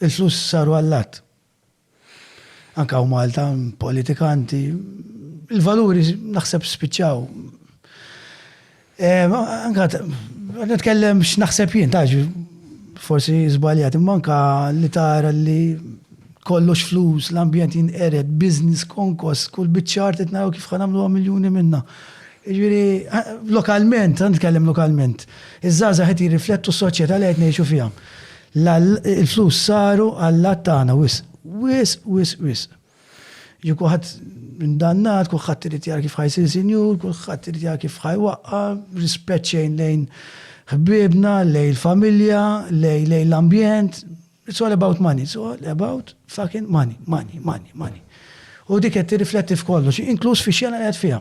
Is-sus saru allat. Anke hawn Malta, politikanti, il-valuri naħseb spiċċaw. Anke qed nitkellem x'naħseb jien, taf forsi żbaljat, imma anke li tara li kollox flus, l-ambjent jinqered, business konkos, kull biċċar qed naraw kif ħa nagħmluha miljuni minnha. Jiġifieri lokalment, ħa nitkellem lokalment, iż-żgħażagħ qed jirriflettu s-soċjetà li qed ngħixu fiha. La, il-flus saru allat tagħna wisq, wisq, wisq, wisq. Ġie kulħadd indannat, kulħadd irid jara kif ħa jsir sinjur, kulħadd irid jara kif ħa jwaqqa', rispett xejn lejn ħbiebna, lejn il-familja, lejn lejn l-ambjent. It's all about money, it's all about fucking money, money, money, money. U dik qed tirrifletti f'kollox, inkluż fix-xena li qegħed fiha.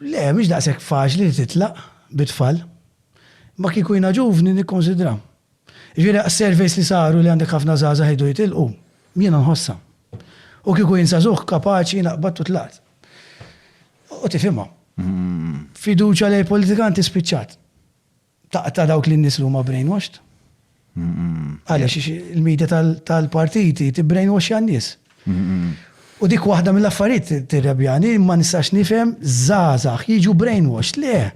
Le, mhix daqshekk faċli li titlaq bi tfal. Imma kieku jiena ġuvni nikkunsidra. Jiġifieri surveys li saru li għandek ħafna żgħażagħ jridu jitilqu, jiena nħossha. U kieku jien żagħżugħ kapaċi jiena qbadt u tlaqt. U tifhimha. Fiduċja lejn politikanti spiċċat. taqta' dawk lin-nies li huma brainwashed. Għaliex il-media tal-partiti tibbrainwashja n-nies. U dik waħda mill-affarijiet tirrebjani ma nistax nifhem żgħażagħ jiġu brainwashed. Le,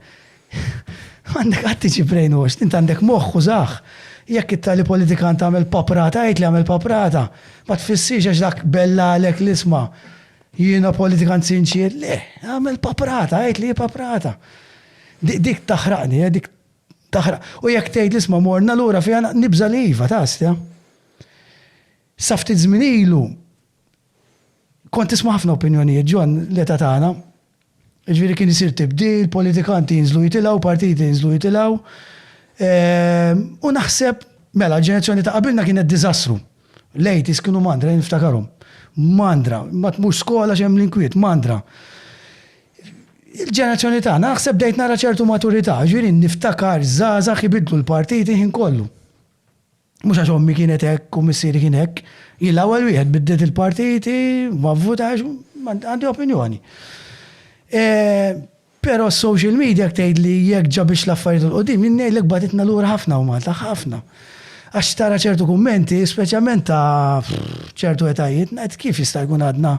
għandek qatt tiġi brainwashed, int għandek moħħ użah. Jekk it-tali politikan tagħmel paprata, għid li għamel paprata, ma tfissirx għax dak bellalek l-isma' jiena politikan sinċier, le, għamel paprata, għid li hi paprata. Dik taħraqni, eh, dik taħraq. U jekk tgħid li isma' morna lura fiha nibża' li iva, tastja. Sa ftit żmien ilu kont tisma' ħafna opinjonijiet ġon l-età tagħna. Ġifieri kien isir tibdil, politikanti jinżlu jitilgħu, partiti jinżlu jitilgħu. Ehm, u naħseb, mela, ġenerazzjoni ta' qabilna kienet diżastru. Lejt kienu mandra, niftakarhom. Mandra, ma tmux skola xemm l-inkwiet, mandra. Il-ġenerazzjoni tagħna, naħseb bdejt nara ċertu maturità, jiġifieri niftakar żgħażagħ ibidlu l-partit il-ħin kollu. Mhux għax ommi kienet hekk u missieri kien hekk. Jien l-ewwel wieħed bidliet il-partiti, ma vvutax, għandi opinjoni. Però s-social media jekk tgħidli jekk ġabitx l-affarijiet 'l quddiem, jien ngħidlek bagħtitna lura ħafna hawn Malta, ħafna. Għax tara ċertu kummenti, speċjalment ta' ċertu etajiet, ngħid kif jista' jkun għadna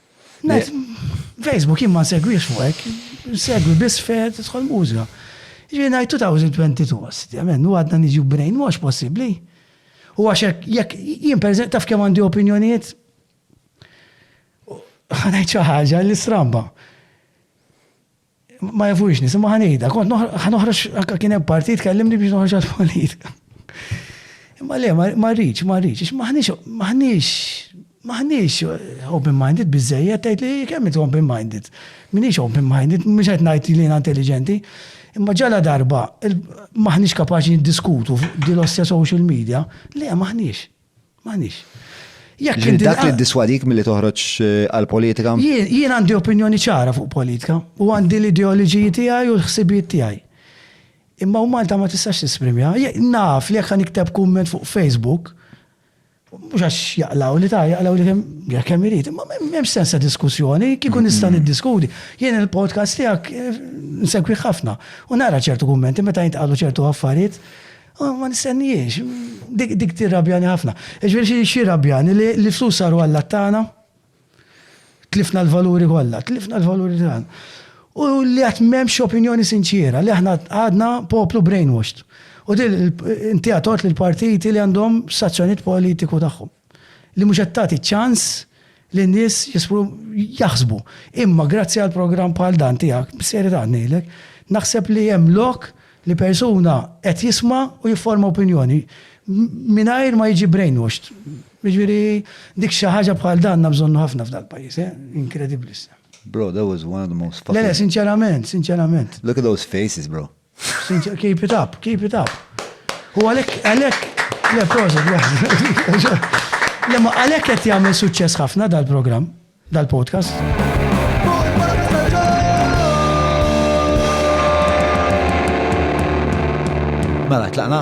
Facebook jien ma segwix fuq hekk, segwi biss fejn tidħol mużika. Ġifieri ngħid 2022 għassi, men, u għadna niġu brain wash possibbli. U għax jekk jien pereżempju taf kemm għandi opinjonijiet ħanajt xi ħaġa li stramba. Ma jafux nis, ma ħanejda, kont ħanoħroġ, kien hemm partit kellimni biex noħroġ għal-politika. Imma le, ma rridx, ma rridx, maħniex, maħniex, maħniex open-minded biżejjed, tgħid li kemm inti open-minded. Minix open-minded, mhux qed ngħid li intelligenti. Imma ġala darba, maħniex kapaċi niddiskutu dil-ossja social media, le maħniex. M'għandix. Jekk Ġifieri dak li ddiswadik milli toħroġ eh, għall-politika? Jien jien għandi opinjoni ċara fuq politika u għandi l-ideoloġiji tiegħi u l-ħsibijiet tiegħi. Imma u Malta ma tistax tisprimja. Je- Naf li jekk ħa nikteb kumment fuq Facebook, mhux għax jaqlaw li ta' jaqlaw li kemm jekk kemm irid, imma m'hemm m'hemmx sens ta' diskussjoni, kieku nista' niddiskuti. Jien il-podcast tiegħek eh, nsegwi ħafna u nara ċertu kummenti meta jintqalu ċertu affarijiet Ah, ma nistennijiex, dik tirrabjani ħafna. Ġveri xie rabjani li flus saru għalla tana, tlifna l-valuri kolla, tlifna l-valuri tana. U li għat memx opinjoni sinċiera, li aħna għadna poplu brainwashed. U dil inti għatort l-partiti li għandhom sazzjoniet politiku tagħhom. li mhux qed tagħti ċans lin-nies jaħsbu. Imma grazzi għal programm bħal dan tiegħek, b'serjetà qed ngħidlek, naħseb li hemm lok li persuna qed jisma' u jifforma opinjoni mingħajr ma jiġi brainwashed. Jiġifieri dik xi ħaġa bħal dan għandna bżonnu ħafna f'dal-pajjiż, eh? Inkredibbli issa. Bro, that was one of the most fucking. Le, sinċerament, sinċerament. Look at those faces, bro. Keep it up, keep it up. U għalek, għalek, le prosa, Lemma għalek qed jagħmel suċċess ħafna dal-programm, dal-podcast. Mela, tlaqna?